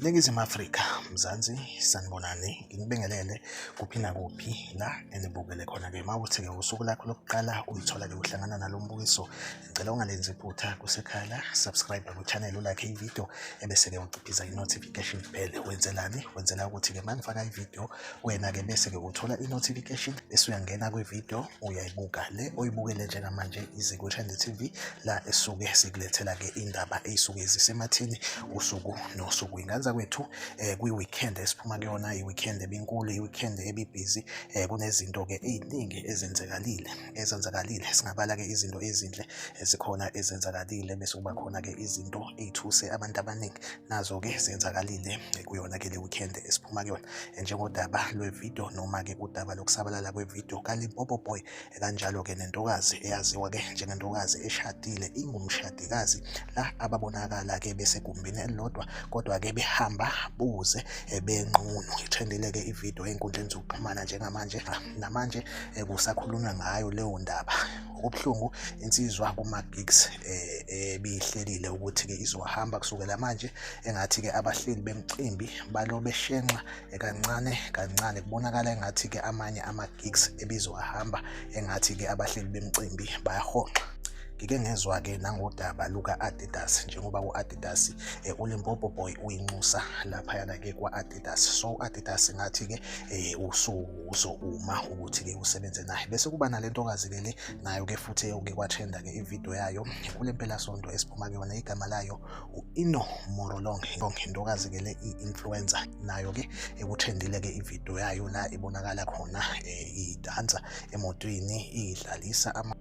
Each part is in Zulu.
Ningizimu Afrika, Mzansi, sanibonani, nginibingelele kuphi nakuphi la enibukele khona-ke. Uma ukuthi-ke usuku lakho lokuqala uyithola-ke uhlangana nalo mbukiso Ngicela ungalenzi iphutha kusekhala, subscribe ku channel ulike ivideo ebese ke uciphiza i notification bell. Wenzelani? Wenzela ukuthi ke mangifaka ivideo wena ke bese ke uthola i notification bese uyangena kwi video uyayibuka le oyibukele njengamanje iZiku Channel TV la esuke sikulethela ke indaba ezisuke zisemathini usuku nosuku. Inganza kwethu eh, kwi weekend esiphuma kuyona i weekend ebinkulu i weekend ebibhizi eh, kunezinto ke eziningi ezenzekalile. ezenzakalile singabala-ke izinto ezinhle ezikhona ezenzakalile bese kuba khona-ke izinto ey'thuse abantu abaningi nazo-ke zenzakalile kuyona-ke le weekend esiphuma kuyona njengodaba lwevidiyo noma-ke udaba lokusabalala kwevidiyo kalimpopo boy kanjalo-ke nentokazi eyaziwa-ke njengentokazi eshadile ingumshadikazi la ababonakala-ke besegumbini elilodwa kodwa-ke behamba buze benqunu ithendile-ke ividiyo ey'nkundleni zokuxhumana njengamanje namanje eh, kusakhulunywa ngayo leyo ndaba okubuhlungu insizwa kuma-gigs eh, ebiyihlelile eh, ukuthi-ke izohamba kusukela manje engathi-ke abahleli bemcimbi balo beshenxa eh, kancane kancane kubonakala engathi-ke amanye ama-gigs ebizowahamba engathi-ke abahleli bemcimbi bayahonxa ngike ngezwa-ke nangodaba luka-adidas njengoba u-adidas um ulimpopo boy uyinxusa laphayana-ke kwa-adidas Adidas so Adidas ngathi ke eh usuzouma ukuthi ke usebenze naye bese kuba nalentokazi ke le nayo ke futhi eyoke kwatrenda ke ivideo yayo kule mpelasonto esiphuma kuyona igama layo u-ino morolong intokazi ke le i-influencer nayo ke ekutrendile ke ivideo yayo la ibonakala khona eh, idansa emotweni idlalisa ama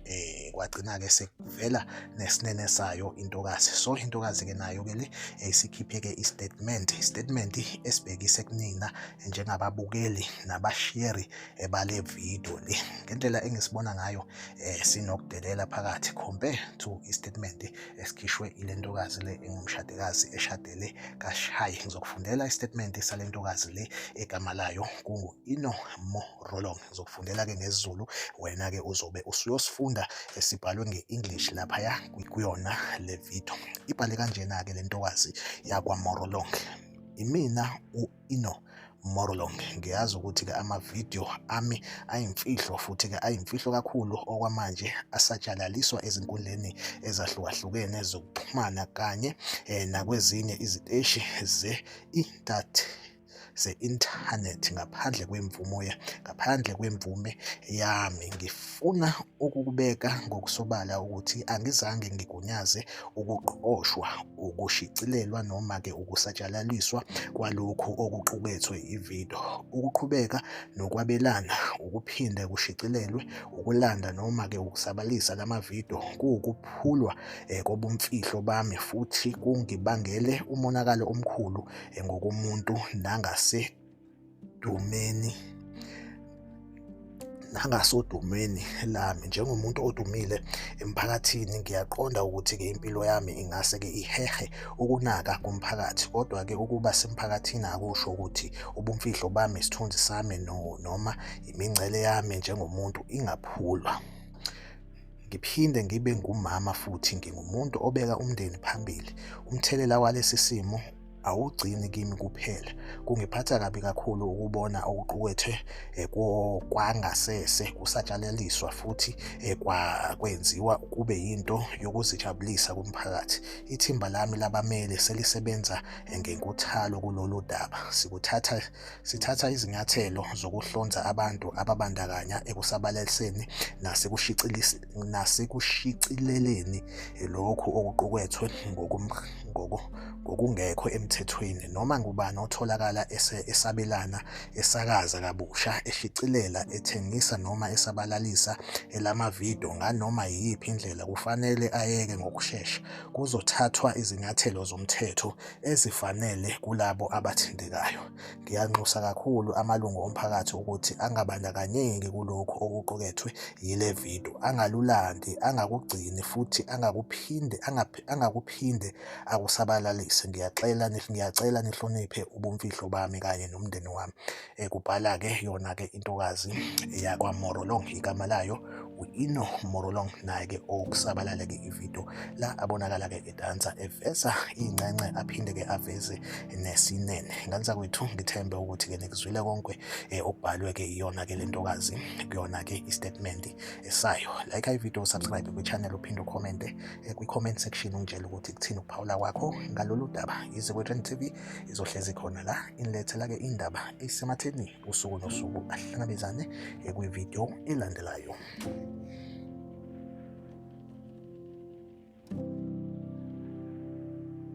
eh kwagcina-ke sekuvela nesinene sayo intokazi so intokazi-ke nayo-ke le eh, isikhiphe-ke i-statement i-statement esibhekise kunina njengababukeli nabasheri eh, bale video le ngendlela engisibona ngayo eh, sinokudelela phakathi compare to i-statement esikhishwe ile ntokazi le engumshadikazi eshadele kashayi ngizokufundela i-statement sale ntokazi le egama layo kungu-ino morolong Ngizokufundela-ke ngesiZulu, wena-ke uzobe usuyosifunda esibhalwe nge-English laphaya kuyona le video. Ibhale kanjena-ke le ntokazi yakwaMorolong. Imina u-Ino Morlong. Ngiyazi ukuthi-ke amavidiyo ami ayimfihlo futhi-ke ayimfihlo kakhulu okwamanje asatshalaliswa ezinkundleni ezahlukahlukene zokuxhumana kanye eh, nakwezinye iziteshi ze-intanethi. ze-inthanethi ngaphandle kwemvumo ngaphandle kwemvume yami ngifuna ukubeka ngokusobala ukuthi angizange ngigunyaze ukuqoshwa ukushicilelwa noma-ke ukusatshalaliswa kwalokhu okuqukethwe ivido ukuqhubeka nokwabelana ukuphinde kushicilelwe ukulanda noma-ke ukusabalisa la mavido kuwukuphulwa um kobumfihlo bami futhi kungibangele umonakalo omkhulu ngokomuntu nangasedumeni nangasodumeni lami njengomuntu odumile emphakathini ngiyaqonda ukuthi-ke impilo yami ingase-ke ihehe ukunaka komphakathi kodwa-ke ukuba semphakathini akusho ukuthi ubumfihlo bami isithunzi sami noma imingcele yami njengomuntu ingaphulwa ngiphinde ngibe ngumama futhi ngingumuntu obeka umndeni phambili umthelela walesi simo awugcini kimi kuphela kungiphatha kabi kakhulu ukubona okuqukethwe eh, kwangasese kusatshalaliswa futhi eh, kwenziwa kube yinto yokuzijabulisa kumphakathi ithimba lami labamele selisebenza eh, ngenkuthalo kulolu daba sikuthatha Sithatha izinyathelo zokuhlonza abantu ababandakanya ekusabalaliseni nasekushicileleni lokhu okuqukethwe ngokungekho emthethweni noma ngubani otholakala esabelana, esakaza kabusha, eshicilela, ethengisa noma esabalalisa elamavidiyo nganoma yiyiphi indlela kufanele ayeke ngokushesha. Kuzothathwa izinyathelo zomthetho. ezifanele kulabo abathintekayo. Ngiyanxusa kakhulu amalungu omphakathi ukuthi angabandakanyeki kulokhu okuqukethwe yile video, angalulandi, angakugcini futhi angakuphinde angakuphinde akusabalalise. Ngiyaxela ngiyacela nihloniphe ubumfihlo bami kanye nomndeni wami. Kubhala-ke yona-ke intokazi yakwaMorolong igama layo u-Ino Morolong naye-ke okusabalale-ke ividiyo la abonakala-ke edansa eveza iy'ncenxe aphinde-ke aveze nesinene nganisa kwethu ngithembe ukuthi-ke nikuzwile konke eh, okubhalwe-ke iyona-ke le ntokazi kuyona-ke i-statement sayo like ividiyo usubscribe kwi-channel uphinde ukhomente eh, kwi-comment section ungitshela ukuthi kuthini ukuphawula kwakho ngalolu daba yize kwethu tv izohlezi khona la inilethela-ke indaba esematheni usuku nosuku ahlangabezane kwividiyo elandelayo